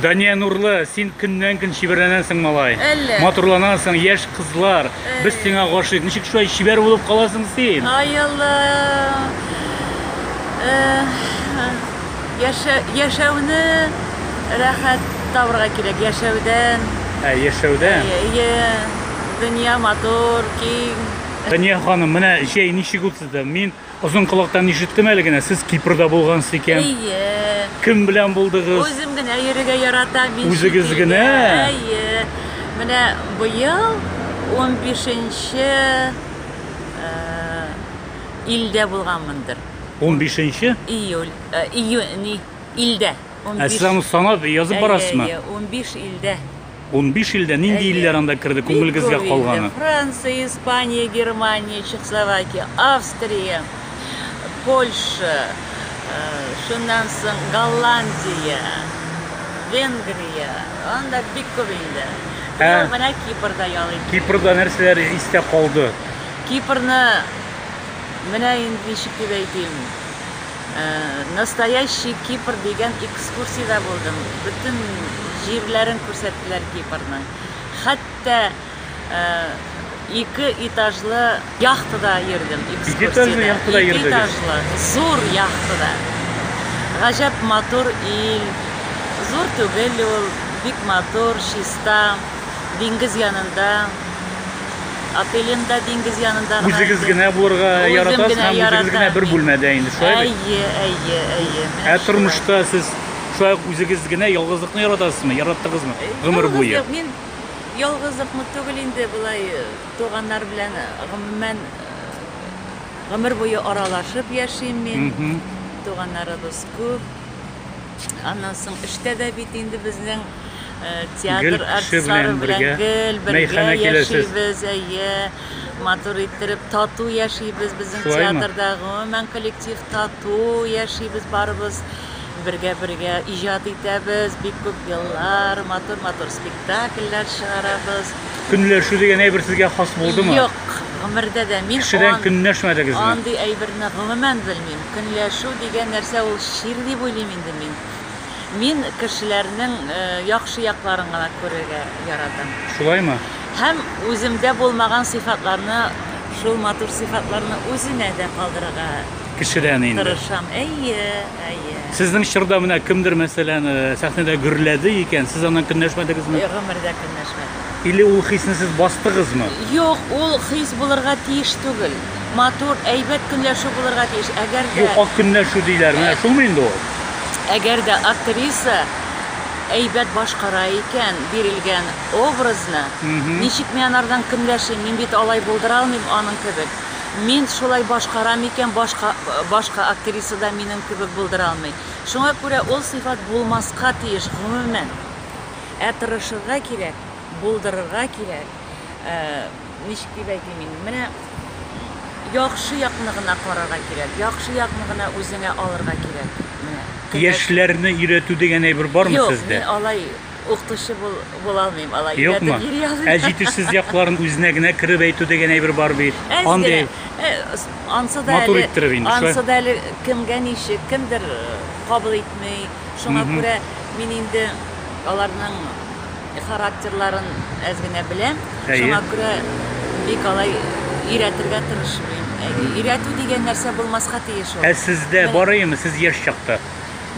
Дания Нурлы, син көннән көн чибәрләнәсең, малай. Әллә. Матурланасың, яшь кызлар. Әй. Без сиңа гашыйк. Ничек шулай чибәр булып каласың син? Ай Алла. Э, яшә, яшәүне рәхәт табырга кирәк. Яшәүдән. Ә, яшәүдән. Әйе. Дөнья матур, киң. Сания ханым, менә җәй ничек үтте? Мин озын колактан ишеттем әле генә, сез Кипрда булгансыз икән. Әйе. Кем белән булдыгыз? Үзем генә йөрергә яратам. мин Үзегез шикелле. генә? Әйе. Менә быел 15-нче э, илдә булганмындыр. 15-нче? Июль, э, июнь, не, илдә. 15. Ә сез аны санап язып Әйе, барасызмы? әйе, 15 илдә. Унбиш илдә, нинди илләр анда керде күңелегезгә калганы? Франция, Испания, Германия, Чехословакия, Австрия, Польша, шуннан соң Голландия, Венгрия, анда бик күп инде. Ә менә Кипрда ял иттек. Кипрда нәрсәләр истә калды? Кипрны менә инде ничек дип әйтим, Настоящий Кипр дигән экскурсиядә булдым. Бөтен җирләрен күрсәттеләр Кипрның. Хәтта ике этажлы яхтада йөрдем экскурсиядә. Ике этажлы яхтада йөрдегез? Ике этажлы, зур яхтада. Гаҗәп матур ил. Зур түгел ул, бик матур, чиста. диңгез янында, Апелинда диңгез янында гына. Үзегез генә булырга яратасыз һәм үзегез генә бер бүлмәдә инде, шулай бит? Әйе, әйе, әйе. Ә тормышта сез шулай үзегез генә ялгызлыкны яратасызмы? Яраттыгызмы? Э, гомер буе. Мин ялгызлыкны түгел инде болай э, туганнар белән э, гомумән гомер буе аралашып яшим мин. Туганнарыбыз күп. Аннан соң эштә дә бит инде безнең театр артистлары белән гел бергә яшибез, әйе, матур иттереп тату яшибез безнең театрда, гомумән коллектив тату яшибез барыбыз бергә-бергә иҗат итәбез, бик күп еллар матур-матур спектакльләр чыгарабыз. Көнләшү дигән әйбер сезгә хас булдымы? Юк, гомердә дә мин кешедән көнләшмәдегезме? Андый әйберне гомумән белмим. Көнләшү дигән нәрсә ул чир дип уйлыйм инде мин. Мин кешеләрнең яхшы якларын гына күрергә яратам. Шулаймы? Һәм үземдә булмаган сыйфатларны, шул матур сыйфатларны үзенә дә калдырырга Кешедән инде. тырышам. Әйе, әйе. Сезнең чорда менә кемдер, мәсәлән, сәхнәдә гөрләде икән, сез аннан көнләшмәдегезме? Гомердә көнләшмәдем. Или ул хисне сез бастыгызмы? Юк, ул хис булырга тиеш түгел. матур, әйбәт көнләшү булырга тиеш. Әгәр дә... Юк, ак көнләшү диләр. Менә шулмы инде ул? Әгәр дә актриса әйбәт башкара икән бирелгән образны, ничек мин анардан көнләшим? Мин бит алай булдыра алмыйм аның кебек. Мин шулай башкарам икән, башка, башка актриса да минем кебек булдыра алмый. Шуңа күрә ул сыйфат булмаска тиеш, гомумән. Ә тырышырга кирәк, булдырырга кирәк. Ә, ничек дип әйтим инде, менә яхшы якны гына карарга кирәк, яхшы якны гына үзеңә алырга кирәк. Менә. Яшьләрне өйрәтү дигән әйбер бармы Юк, сездә? Юк, мин алай укытучы бул, була алмыйм, алай Юкмы? өйрәтеп йөри алмыйм. Ә җитешсез якларын үзенә генә кереп әйтү дигән әйбер бар бит. Андый ансы да матур иттереп инде шулай. Ансы да әле кемгә ничек, кемдер кабул итми. Шуңа күрә мин инде аларның Характерларын әз генә беләм. Әйе. Шуңа күрә бик алай өйрәтергә тырышмыйм. Өйрәтү дигән нәрсә булмаска тиеш ул. Ә сездә бар име, сез яшь чакта?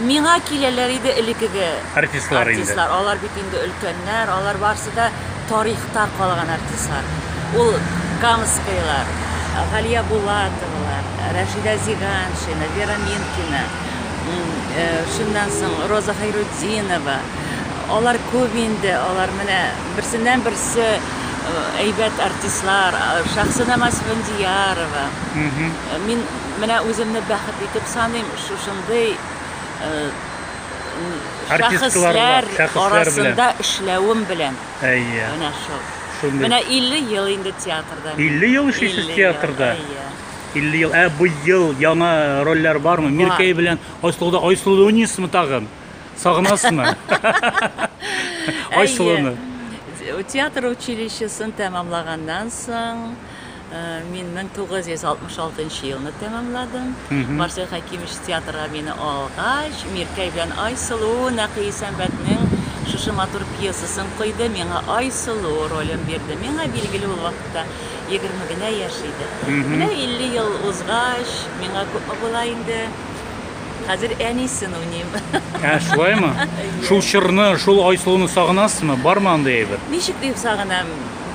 Миңа киләләр иде элекеге артистлар, артистлар. Алар бит инде өлкәннәр, алар барысы да тарихта калган артистлар. Ул Камскайлар, Галия Булатовалар, Рәшидә Зиганшина, Вера Минкина, шуннан соң Роза Хәйрутдинова. Алар күп инде, алар менә берсеннән берсе әйбәт артистлар, Шәхсенә Масфендиярова. Мин менә үземне бәхет итеп саныйм, шушындый шәхесләр арасында эшләвем белән. Әйе. Менә шул. Шундый. Менә 50 ел инде театрда. 50 ел эшлисез театрда? Әйе. 50 ел. Ә быел яңа рольләр бармы? Миркәй белән Айсылуда Айсылунисмы тагын? Сагынасызмы? Айсылуны. Театр училищесын тәмамлаганнан соң э, мин 1966 елны тәмамладым. Марсель Хәкимович театрга мине алгач, Миркәй белән Айсылу Нәкый Исәнбәтнең шушы матур пьесасын койды, миңа Айсылу ролен бирде. Миңа билгеле ул вакытта 20 генә яшь иде. Менә 50 ел узгач, миңа күпме була инде? Хәзер әнисен уйныйм. Ә, шулаймы? Шул чорны, шул Айсылуны сагынасызмы? Бармы андый әйбер? Ничек дип сагынам?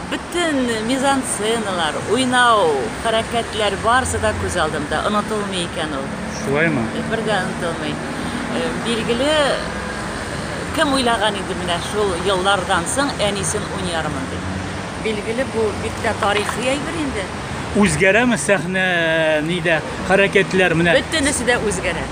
Бөтен мизансценалар, уйнау, хәрәкәтләр барысы да күз алдымда. Онытылмый икән ул. Шулаймы? Бер дә онытылмый. Э, Билгеле, кем уйлаган иде менә шул еллардан соң әнисен уйнармын дип. Билгеле, бу бик тә тарихи әйбер инде. Үзгәрәме сәхнә нидә? Хәрәкәтләр менә. Бөтенесе дә үзгәрә.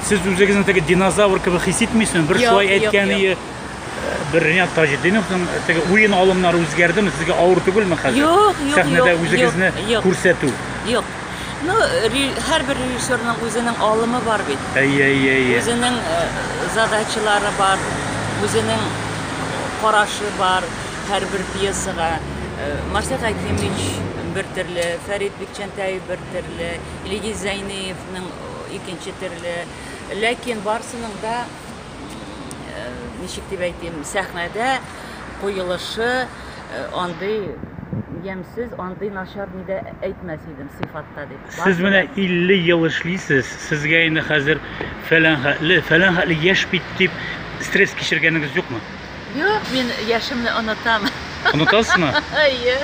Сез үзегезне теге динозавр кебек хис итмисезме? Бер Юк, шулай юк, әйткәне юк. э, бер Ринат Таҗетдиновның теге уен алымнары үзгәрдеме? Сезгә авыр түгелме хәзер? Юк, юк, Сәхнәдә юк, үзегезне юк, юк. күрсәтү. Юк. Ну, ре- һәрбер режиссерның үзенең алымы бар бит. Әйе, әйе, әйе. Үзенең э, задачалары бар, үзенең карашы бар. Һәрбер пьесага Марсель Хәкимович бер төрле, Фәрит Бикчәнтәев бер төрле, Илгиз Зәйниевның икенче төрле. Ләкин барсының да ничек дип әйтим, сәхнәдә куелышы андый ямьсез, андый начар ни дә әйтмәс идем сыйфатта дип. Сез менә 50 ел эшлисез, сезгә инде хәзер фәлән хәтле, фәлән хәтле яшь бит дип стресс кичергәнегез юкмы? Юк, мин яшемне онытам. Онытасызмы? Әйе.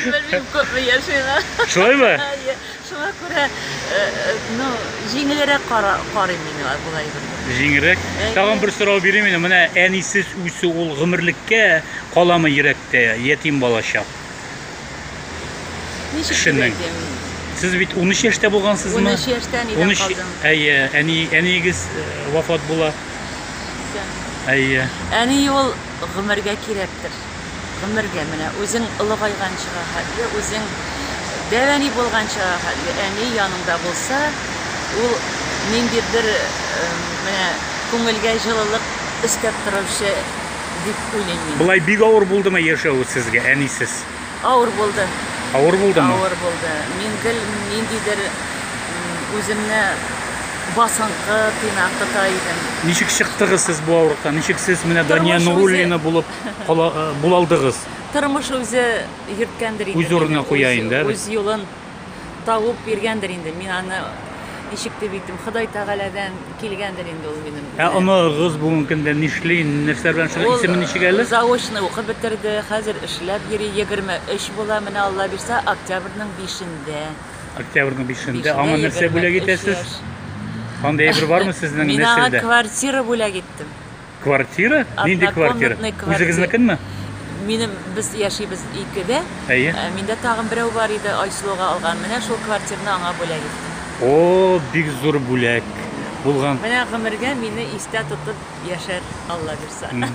Белмим, күпме яшиңа. Шулаймы? Әйе. Шуңа күрә, э, э, ну, җиңелрәк кара- карыйм мин аңа, болай бер. Җиңелрәк. Әйе. Тагын бер сорау бирим инде. Менә әнисез үсү ул гомерлеккә каламы йөрәктә, ятим балачак? Ничек Кешенең. кирәк ями? Сез бит 13 яшьтә булгансызмы? 13 яшьтә әнидән 13 калдым. Әйе, әни әниегез э, вафат була. Исән. Әйе. Әни ул гомергә кирәктер. Гомергә менә үзең олыгайганчыга хәтле, үзең дәвәни булганчыга хәтле әни яныңда булса, ул ниндидер э, менә күңелгә җылылык өстәп торучы дип уйлыйм мин. Болай бик авыр булдымы яшәве сезгә, әнисез? Авыр булды. Авыр булдымы? Авыр булды. Мин гел ниндидер үземне басынкы, тыйнакы та идем. Ничек чыктыгыз сез бу авырлыктан? Ничек сез менә Дания Нуруллина булып э, булалдыгыз? Тормыш үзе йөрткәндер инде. Үз урынына куя инде. Үз юлын табып биргәндер инде. Мин аны ничек дип әйтим, Ходай Тәгаләдән килгәндер инде ул минем. Ә оныгыз бүгенге көндә нишли, нәрсә белән шул исеме ничек әле? Ул заочно укып бетерде, хәзер эшләп йөри, 23 була, менә Алла бирсә, октябрьнең 5-ндә. Октябрьнең 5-ндә аңа нәрсә бүләк итәсез? Андый әйбер бармы сезнең нәселдә? Мин аңа квартира бүләк иттем. Квартира? Нинди квартира? Үзегезнекенме? Минем без яшибез икедә. Әйе. Ә, миндә тагын берәү бар иде, Айсылуга алган. Менә шул квартираны аңа бүләк иттем. О, бик зур бүләк булган. Менә гомергә мине истә тотып яшәр Алла бирсә.